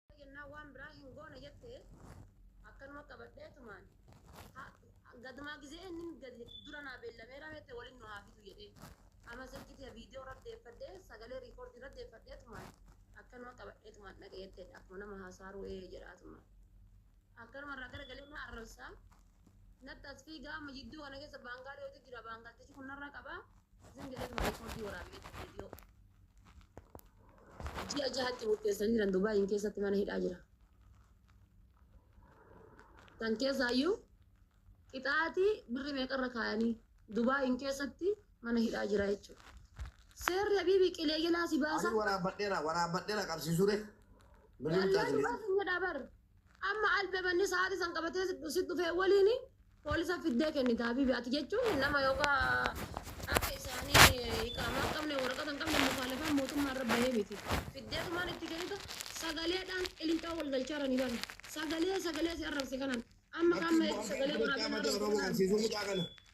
Tole jennaan waan biraa hin goona jette akkanuma qabadheetumaan ha- gadumaa gizee inni gadi dura naa beellameera jette waliin nu haa fidu jedhee amma silkitii viidiyoo irra deeffadhee sagalee riikoordii irra deeffadheetumaan akkanuma qabadheetumaan dhaqee jette akkuma nama haasaaruu ee jedhaatumaan akkanuma irraa garagalee na arrabsaa natti as fiigaa amma jidduu kana keessa baangaa dhiyootu jira baangaltichi kun narra qabaa isin jedheetuma riikoordii waraabee viidiyoo. Ji'a jahatti murteessanii jiran Dubaayiin keessatti mana hidhaa jira. Kan keessaayyuu qixaatii birri meeqarra kaayanii Dubaayiin keessatti mana hidhaa jira jechuudha. Seerri Habiibii qilee jalaa si baasa. Ani waraabadheera waraabadheera qabsiisure. Birrii Wallaahi murtaa'e. baasa hin jedhaa bar. Amma albebanni sa'aati san qabatee sit dhufee waliini polisa fiddee kennita habibi ati jechuun nama yoka akka isaani iqaamaa hin qabne waraqata hin qabne mukaalafaan mootummaa irra bahee miti fiddee tumaan itti kennita sagaleedhaan qilincoo wal galchaarani bari sagalee sagalee si arrabse kanan amma Lakki kaamma eegi immoo amma sagalee amma waraabee na qaama ta'e arrabse Oromoo kanan. agarsiisuu mucaa kana.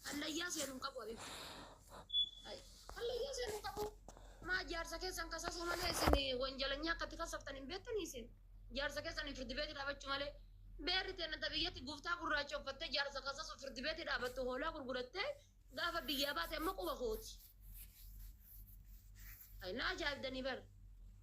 Hallayyaa seenu hin qabu Habibi. Ay, Hallayyaa seenu hin qabu. Maa jaarsa keessan kasasuu malee isin wanjalanyaa akkatti kasaftan hin beektanii isin. Jaarsa keessan hin firdi beeti dhaabachuu malee. Beerri teenna ta biyyatti guftaa gurraacha uffattee jaarsa kasasuu firdi beeti dhaabattu hoolaa gurgurattee gaafa biyyaa baate amma quba kooti. Ay, na ajaa'ibdanii bara.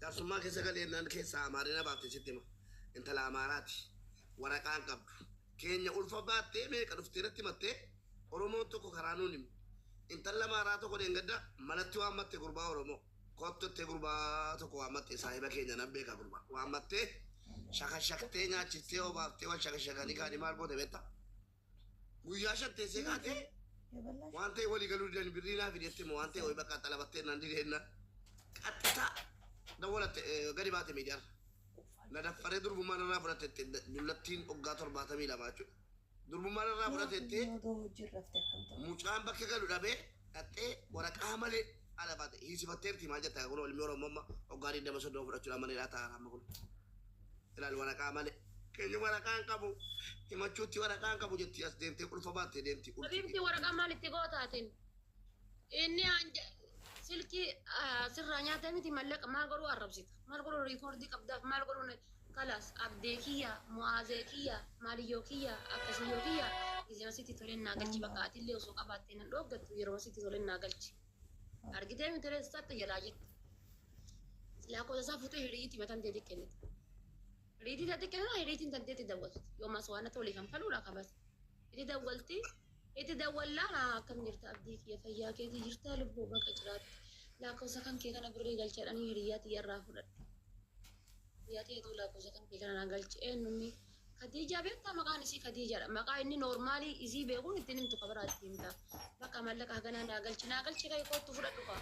Jaarsummaa keessa galeennaan keessaa Amaarina baafte sitti hima. Intala Amaaraati. Waraqaa hin qabdu. Keenya ulfa baattee meeqa dhuftee natti himattee Oromoon tokko karaa nuun hime. Intalli Amaaraa tokko dheengadda manatti waammatte gurbaa Oromoo. Kottu jettee gurbaa tokko waammatte saahiba keenya nan beeka gurbaa. Waammattee shakashaktee nyaachistee obaaftee wal shakashakanii kaanii maal goote beektaa? Guyyaa shan teessee kaatee waan ta'e walii galuu didan birrii naa fidi jettee moo waan ta'e ho'i bakka xalabattee naan dide jennaan qaxxisaa dawwalatte eh, gadi baate miidiyaarra. Na daffaree durbummaan irraa fudhatetti dullattiin waggaa torbaatamii lama jechuudha. Durbummaan irraa fudhatetti mucaan bakka galu dhabee dhaxxee waraqaa malee ala baate hiisifatteerti maal jettaa kun ilmi Oromoo amma waggaa 23 fudhachuudhaan maneedhaa taa'an amma kun. Ilaali waraqaa malee. Keenya waraqaa hin qabu. Himachuutti waraqaa hin qabu jetti as deemtee qulfa baattee deemti qulfi. Habibti waraqaa maal itti goota atin? Inni anja silkii ah, sirraa nyaatee miti mallaqa maal godhuu arrabsita? Maal godhuu riikoordii qabdaaf maal godhuu na- kalas abdee kiyya mu'aazee kiyya maaliyyoo kiyya akkasiyyoo kiyya gizima sitti toleen naa galchi bakka atillee osoo qabaattee nan dhooggattu yeroo sitti toleen naa galchi. Argitee miti ree satta jalaa jirti. Silaa qosa isaa fuutee hiriitii matan deetii kennite. Hiriitii deetii kennite hiriitiin tan deetii dawwalti. Yoo maas waan natti walii kan faluudha qabas. Itti dawwalti. Itti dawwallaa naa akkam jirta abdii kiyya fayyaa keetii jirta lubbuu baqa jiraatti. Lakkoofsa kan kee kana birrii galchadhanii hiriyaa tiyya irraa fudhadhe. Hiriyaa tiyya tuu lakkoofsa kan kee kana naa galche eenyumni Kadiijaa beektaa maqaan isii kadiijaadha maqaa inni noormaalii isii beekuun ittiin himtu ka biraa itti himta bakka mallaqa haganaa naa galchi naa galchi ka'e koottu fudhadhu ka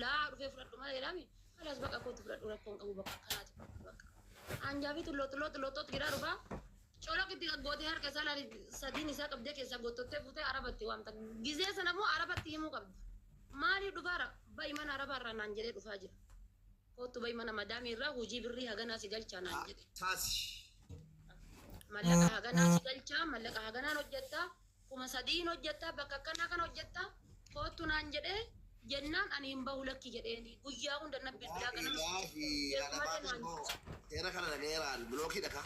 laa dhufee fudhadhu malee jedhaami kalaas bakka koottu fudhadhu rakkoon qabu bakka akkanaati fudhadhu bakka aanjaa fi tulloo tulloo tulloo xoox giraa dhufaa colaq itti gaggootee harka isaa laali sadiin isaa qabdee keessaa gottottee fuutee arabatti waamta gizee sana immoo arabatti himuu qabda maalii dhufaara ba'i mana arabaa irraa naan jedhee dhufaa jira Koottu bahi mana madaamii irraa hojii birrii haganaa si galchaa naan Haa jedhe. taasi. Mallaqa haganaa si galchaa, mallaqa haganaan hojjettaa, kuma sadiin hojjettaa, bakka akkanaa kana hojjettaa, koottu naan jedhee jennaan ani hin bahu lakki jedheeni. Guyyaa hunda na bilbilaa Laahi ganama laahi jeequmate alabaatiin naan koo jedhe. seera kana dhagayeeraan bilookii dhakaa.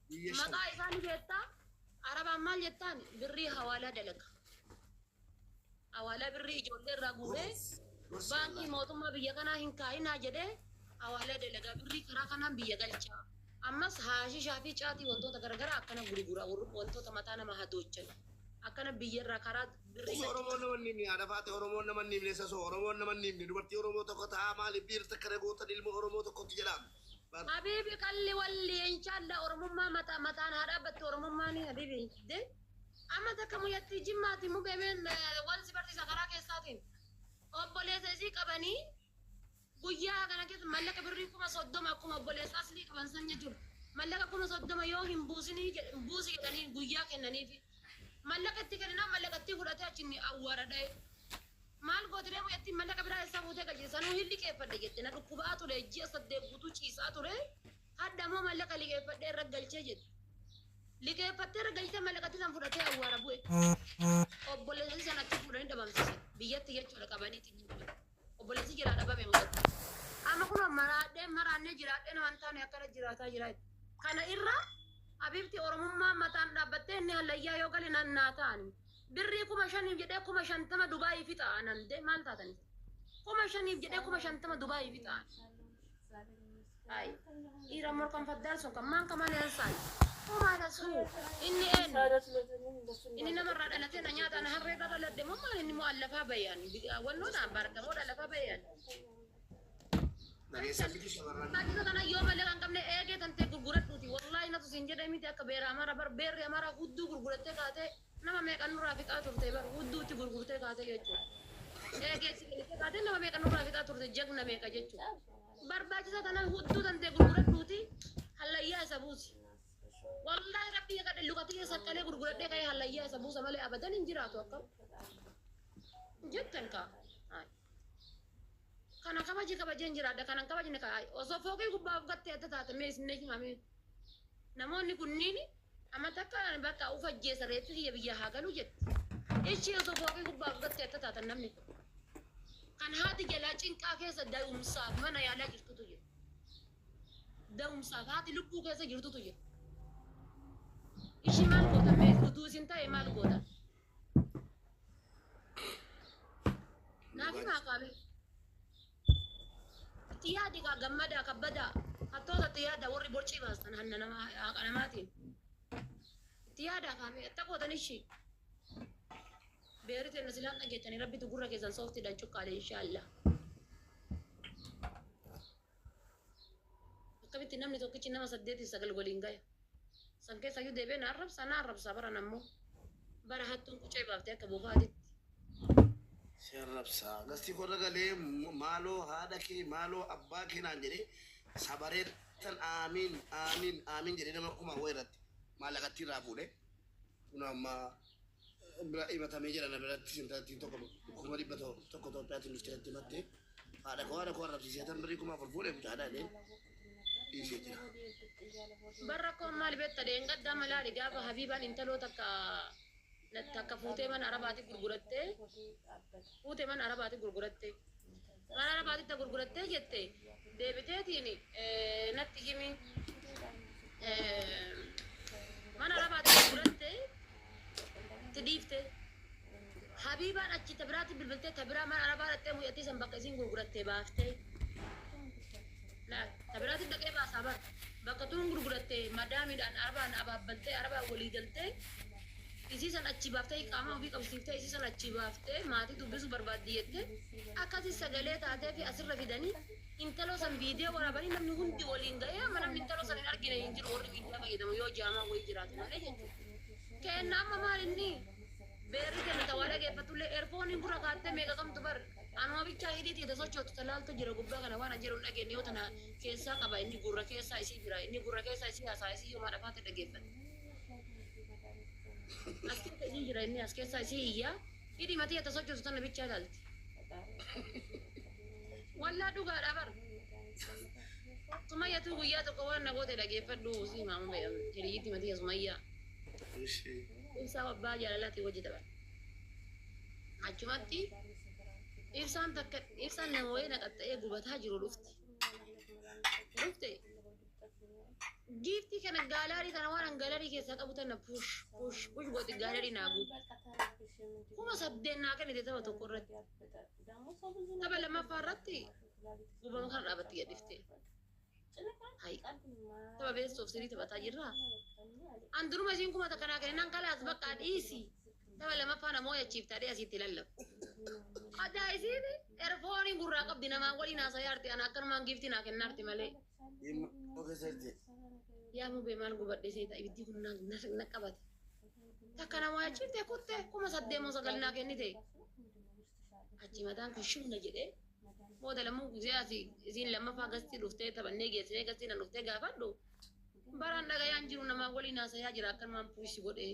Guyya shan. Maqaa isaa ni beektaa? Arabaan maal jettaan? Birrii hawaalaa dalaga. Hawaalaa birrii ijoollee irraa guuree Gobees. Gorsii baankii Allah. mootummaa biyya kanaa hin kaa'inaa jedhee hawaalaa dalagaa birrii karaa kanaan biyya galchaa. Ammas haashishaa fi caatii wantoota garaagaraa akkana gurgura warri- wantoota mataa nama hadoochan. Akkana biyya irraa karaa birrii Osoo Oromoon nama hin himne haadha faate Oromoon nama hin himne sasoo Oromoon nama hin himne dubartii Oromoo tokko ta'aa maaliif biirta kana gootan ilma Oromoo tokkotti jedhaame. Habibi qalli walli inshallah oromummaa mata mataan haa dhaabbattu oromummaani habibi de amma takka muyatti jimmaati mube meen wal si barsiisa karaa keessaatiin obboleessa isii qabanii guyyaa kana keessa mallaqa birrii kuma soddoma akkuma obboleessa aslii qaban san jechuudha mallaqa kuma soddoma yoo hin buusinii jedh- buusi jedhanii guyyaa kennaniifi mallaqa itti kenninaan mallaqa itti fudhatee achinni awwaara dha'e Maal gootiree mucattiin mallaqa biraa essaa fuutee gajjete sanuu hin liqeeffadhe jette na dhukkuba'aa ture ji'a saddeet guutuu ciisaa ture hadha moo mallaqa liqeeffadhee irra galchee jette liqeeffattee irra galchitee mallaqatti san fudhatee awwaara bu'e obboleessasi san achi fuudhanii dhabamsiisan biyyatti jechuudha qabanii xinni bu'e obboleessi jiraa dhabame mucatti amma kunoo maraadhee maraannee jiraadhee naman taane akkana jiraataa jiraa jette. kana irra abibti oromummaa mataan dhaabbattee inni hallayyaa yoo gale nannaa ta'ani Birrii kuma shaniif jedhee kuma shantama Dubaayii fixa analde maal taatan isin? Kuma shaniif jedhee kuma shantama Dubaayii fixa. Ay, dhiira morkan faddaan sun kan maan kamaan hin saay. Homaa tasuu inni eenyu? Inni namarraa dhalatee na nyaata na harree irra dhaladde moo maal inni moo allafaa bayan wannoodha barta moo allafaa bayan. Dhageessa fidi shamarran. Tajaajila kana yoo malee kan qabne eegee kan ta'e gurguradhuuti. Wallaahi natu siin jedhee miti akka beera amara bar beerri amara hudduu gurgurattee kaatee Nama meeqa nurraa fixaa turte bar hudduutti gurgurtee kaate jechu. Ee geessi kennitee kaate nama meeqa nurraa fixaa turte jagna meeqa jechu. Barbaachisa tanan hudduu tantee gurguradhuuti hallayyaa isa buusi. Wallaahi rabbii kakadhe luka kiyya saqqalee gurguradhee ka'ee hallayyaa isa buusa malee abadan hin jiraatu akkam jettan kaa. Haay. Kana kabaje kabajeen jiraadha kana hin kabajne ka osoo fooqii gubbaa of gattee adda taate mee isin natti himame. Namoonni kunniin amma takka bakka uf ajjeesa reeffi kiyya biyyaa haa galu jetti. Ichi osoo fooqii gubbaa of gattee adda taatan namni kun. Kan haati jalaa cinqaa keessa da'umsaaf mana yaalaa jirtutu jira. Da'umsaaf haati lubbuu keessa jirtutu jira. Ishi maal gootan mee utuu isin ta'e maal gootan? Naaf himaa qaamee. Itti yaadi kaa gammadaa kabbadaa. Hattoota itti yaada warri borcii baastan hanna nama haqa namaatiin. Itti yaada kaamee atta gootan ishii. Beerri teenna silaan dhageettanii rabbitu gurra keessan sooftiidhaan cuqqaale inshaallah. Akkamitti namni tokkichi nama saddeet fi sagal waliin gaya? San keessa iyyuu deebi'ee na arrabsa, na arrabsa baran ammoo. Bara hattuun qucee baafte akka bofaa aditti. Si arrabsa. Gastii koo irra galee maaloo haadha kee, maaloo abbaa kee naan jedhee sabareettan aamiin, aamiin, aamiin jedhee nama kumaa wayii irratti maallaqattii irraa fuudhee kunoo amma bira himatame jira na birattis intalattiin tokko kuma dhibba to- tokko Itoophiyaatiin dhuftee natti himatte haadha koo haadha koo arrabsiisee tan birrii kuma afur fuudhe mucaa dhaadhee dhiisee jira. Bar rakkoon maal beekta dheengaddaa malaali gaafa Habiibaan intaloo takka na- takka fuutee mana arabaati gurgurattee fuute mana arabaati gurgurattee Gara arabaatitta gurgurattee jette deebiteetiin natti himi mana arabaatti gurguratte itti dhiifte habiibaan achi ta biraatti bilbiltee ta biraa mana arabaa dhattee mucattii san bakka isiin gurgurattee baaftee ta biraatti dhaqee baasaa bar bakka tuun gurgurattee madaamiidhaan arabaan abaabbaltee arabaan walii galtee isii san achi baaftee qaamaa ofii qabsiiftee isii san achi baaftee maatii dubbisuu barbaaddi jettee Akkasi sagalee taateefi asirra fidani intaloo san video waraabani namni hundi waliin gahee amma namni intaloo san hin argine hin jiru warri miidiyaa fayyadamu yoo jaamaa wayii jiraate malee jechuudha. Keenna amma maal inni beerri kenna ta waa dhageeffatullee erfooniin gurra kaattee meeqa qabdu bar anuma bichaa hidhii tiita sochootu ta laaltu jira gubbaa kana waan an jedhu hin dhageenye yoo tana keessaa qaba inni gurra keessaa isii jira inni gurra keessaa isii haasaa isii yoo maadhaaf haate dhageeffate as keessa isii jira inni as keessaa isii iyyaa Hidhi matii ata sochoosu tana bichaa ilaalti. Wallah dhugaadha bar. Sumayyatuu guyyaa tokko waan na goote dhageeffadhu si himaama ba'e hiriyyiti matii sumayyaa. Ishee. Ibsaa abbaa jaalalaati wajji tapha. Achumatti ibsaan takka ibsaan nama wayii naqaxxa'ee gubataa jiru dhufte. Dhufte Giiftii kana gaalaarii kana waan an gaalaarii keessaa qabu tana push push push gooti gaalaarii naa guutu. Kuma saddeet naa kennite tapha tokko irratti. Tapha lammaffaa irratti guubama kana dhaabatti gadhiftee. Hai. Tapha beestuuf sirii taphataa jirraa. An duruma isiin kuma takka naa kenninan kalaas bakka dhiisi. Tapha lammaffaa namoo yachiif taadhee asitti lallabu. Adaa isiin erfoonii gurraa qabdi namaa waliin haasaa yaarti ana akkanumaan giiftii naa kennaarti malee. Yaa mubee maal gubadhee seeta ibiddi kun na- na- na qabate. Takka na waachiftee kutte kuma saddeemoo sagal naa kennite. Achi mataan kun shibna jedhee booda lammuu gizee asi isiin lammaffaa gastii dhuftee taphannee geessinee gastii na dhuftee gaafadhu. Baraan dhagayaan jiru namaa waliin haasayaa jira akkanumaan puushi godhee.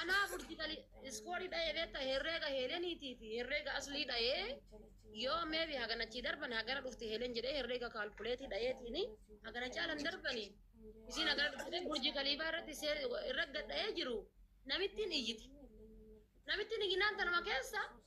Anaa burjikali iskoorii dha'ee beekta herreega heeleniitii fi herreega aslii dha'ee yoo meebi haganachii darban hagana dhufti heelen jedhee herreega kaalkuleetii dha'eetiin hagana caalan darbani isiin hagana dhufte burjii kaliifaa irratti see- irra gadha'ee jiru namittiin iyyiti namittiin iyyinaan tanuma keessa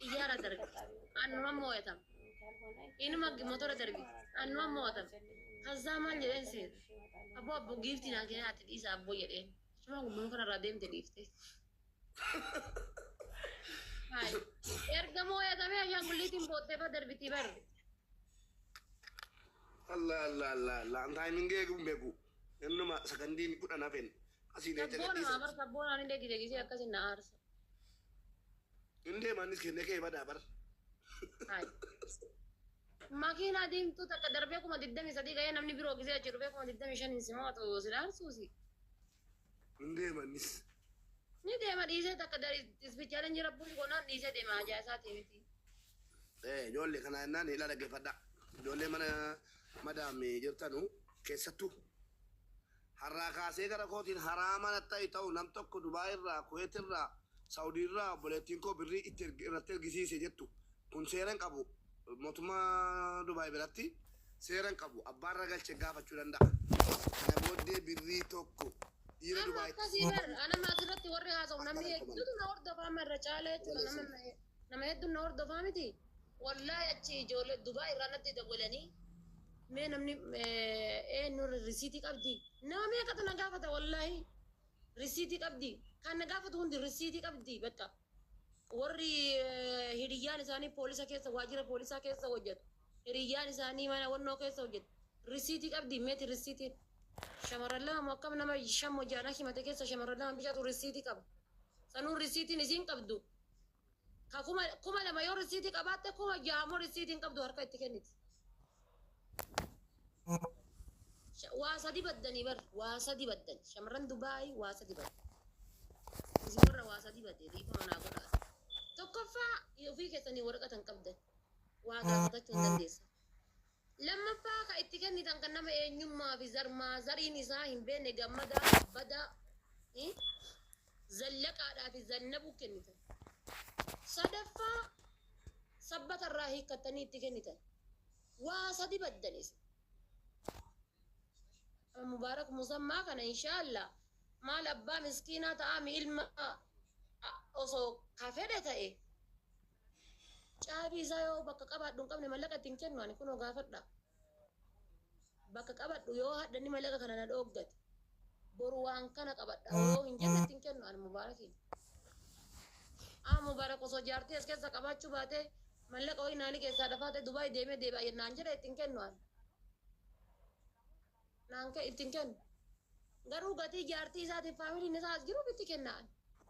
Xiyyaara darbi. Annumaan moo'atam. Inuma motora darbi. Annumaan moo'atam. Kazzaa maal jedheen seeta? Abboo abboo giiftii naa kennaa ati dhiisa abboo jedheen. Achumaan gubbuma kanarraa deemte dhiifte. Haay. Erga moo'atamee ashaangulliitiin boottee irra darbitii barre. Allah Allah Allah Allah an timing eegu hin beeku innuma sakandiin kudhan hafeen asii deemte Sabboon gadhiisa. haa bar sabboon ani degi degisee akkasin na aarsa. Hin deema innis kenne kee badaa bar. Hai. Makiinaa diimtuu takka darbee kuma digdamii sadii ga'ee namni biroo gisee achi dhufee kuma digdamii shaniin si mo'atu si dhaarsuusi. Hin deema innis. Ni deema dhiisee takka dari ispichaaleen jira buusi gonaan dhiisee deema hajaa isaatii miti. Eh, Ijoollee kana jennaan ila dhaggeeffadha. Ijoollee mana madaami jirtanu keessattuu Harraa kaasee gara kootiin haraama natti ta'e ta'u nam tokko Dubai irraa, Kuwait irraa, Saudi irraa obboleettiin koo birrii itti erge irratti ergisiise jettu kun seera hin qabu mootummaa Dubai biratti seera hin qabu abbaan ragalche gaafachuu danda'a. Kana booddee birrii tokko dhiira Amma Dubai akkasii bar anama asirratti warri haasa'u namni hedduutu na hordofa amma irra caalee jechuudha nama nama hedduun na hordofaa miti. Wallahi achi ijoollee Dubai irraa natti dawwalanii. Mee namni eenyu risiitii qabdi? Nama meeqatu na gaafata wallaahi risiitii qabdi. Kan na gaafatu hundi risiitii qabdi bakka. Warri eh, hiriyyaan isaanii poolisa keessa waajjira poolisaa keessa hojjetu. Hiriyyaan isaanii mana wannoo keessa hojjetu. Risiitii qabdi meeti risiitiin. Shamarran lama moo akkam nama shan moo ja'a na himate keessa shamarran lama bicaatu risiitii qaba. Sanuu risiitiin isiin qabdu Ka kuma, kuma lama yoo risiitii qabaatte kuma jaha immoo risiitii hin qabdu harka itti kenniti. Sha- Waa sadi baddanii bar waa sadi baddan shamarran Dubaay waa sadi baddan. Isin warra waa sadi badde dhiifama naa godhaa. Tokkoffaa ofii keessanii waraqaa tan qabdan waa gaafatachuu hin dandeessan. Lammaffaa ka itti kennitan kan nama eenyummaa fi zar maazariin isaa hin beekne Gammadaa Kabbadaa fi Zallaqaadhaa fi Zannabuu kennitan. Sadaffaa sabbata irraa hiikkattanii itti kennitan. Waa sadi baddan isin. Mubaarak Musammaa kana inshaallaa maal abbaa miskiinaa ta'aami ilma osoo ka fedhe ta'e Caabii isaa yoo bakka qabaadhu hin qabne mallaqa ittiin kennu ani kunoo gaafadha. Bakka qabadhu yoo hadha inni mallaqa kana na dhooggate boru waan kana qabadha yoo hin jenne ittiin kennu ani mubaarakiin. Aa mubaarak osoo jaartii as keessa qabaachuu baatee mallaqa wayii naani keessaa dafaatee Dubaay deemee deebi'a jennaan jedhe ittiin kennu ani. Naan ittiin kennu. Garuu gatii jaartii isaatiif faamiliin isaa as jiruuf itti kenna ani.